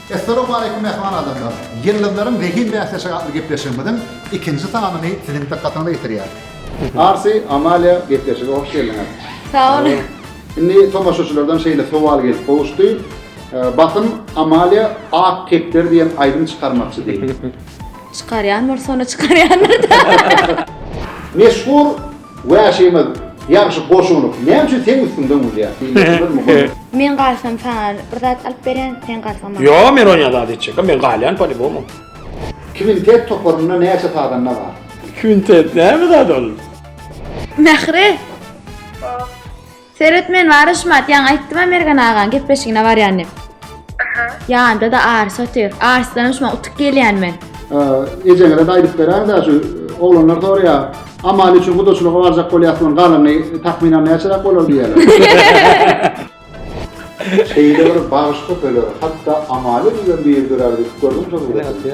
Essalamu aleýkum mähriban adamlar! Ýyldyzlaryň zehin bäsleşigi atly gepleşigimiziň ikinji sanyny siziň dykgatyňyza ýetirýäris. Arsy, Amalia gepleşige hoş geldiňiz! Sag boluň! Indi tomaşaçylardan şeýle sowal gelip gowuşdy, Basym, Amalia Ak kepder diýen aýdym çykarmakçy diýip. Çykarýan bolsa onda çykarýandyr-da. Meşhur Wäşimiz ýagşy goşunyk näme üçin seň üstüňden gülýär diýmekçidir mugallym. Men galsam saňa bir zat alyp berýän sen galsaň maňa. Ýok men oňa zat etjekgem men galýan polibomum. Kwintet toparynda näçe sazanda bar? Kwintet näme zat ol? Mähri. Seret men bar Aşmat ýaňy aýtdym-a Mergen agaň gepleşigine barýan dip. Aha. Ýanynda-da Arys otyr. Arysdanam şumaň utuk gelýän men. Ejeňize-de aýdyp beräň-dä şu oglanlar soraýar, Amalia üçin gudaçylyga barjak bolýasmyň galyňy takmynan näçeräk bolar diýýärler. Şeýle bir bagyşly söler, hatda Amalia bilen bir dörär diýip gördüň şol gürrüňi?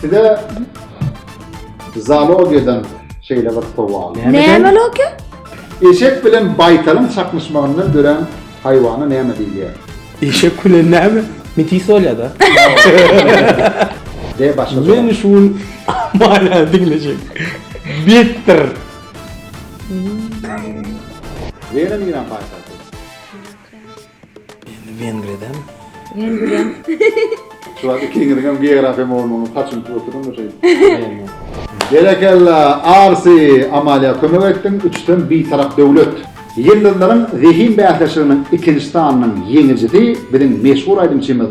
Size zoologiýadan şeýle bir sowal. Näme logiýa? Eşek bilen baýtalyň çaknyşmagyndan dörän haýwana näme diýilýär? Eşek bilen näme? Metis bolýar-da. De başga sowal. Men şu gün Amaliýany diňlejek. Betdir. Wena niräň paýtagty? Indi Wengriýadan. Wengriýam. Şu wagt ikiňiziň hem geografiýa mugallymynyň saçyny tutup oturan da şeýdip. Berekella, Arsy! Amaliýa kömek etdiň, üçüsem Bitarap döwlet. Ýyldyzlaryň zehin bäsleşiginiň ikinji sanynyň ýeňijisi biziň meşhur aýdymçymyz.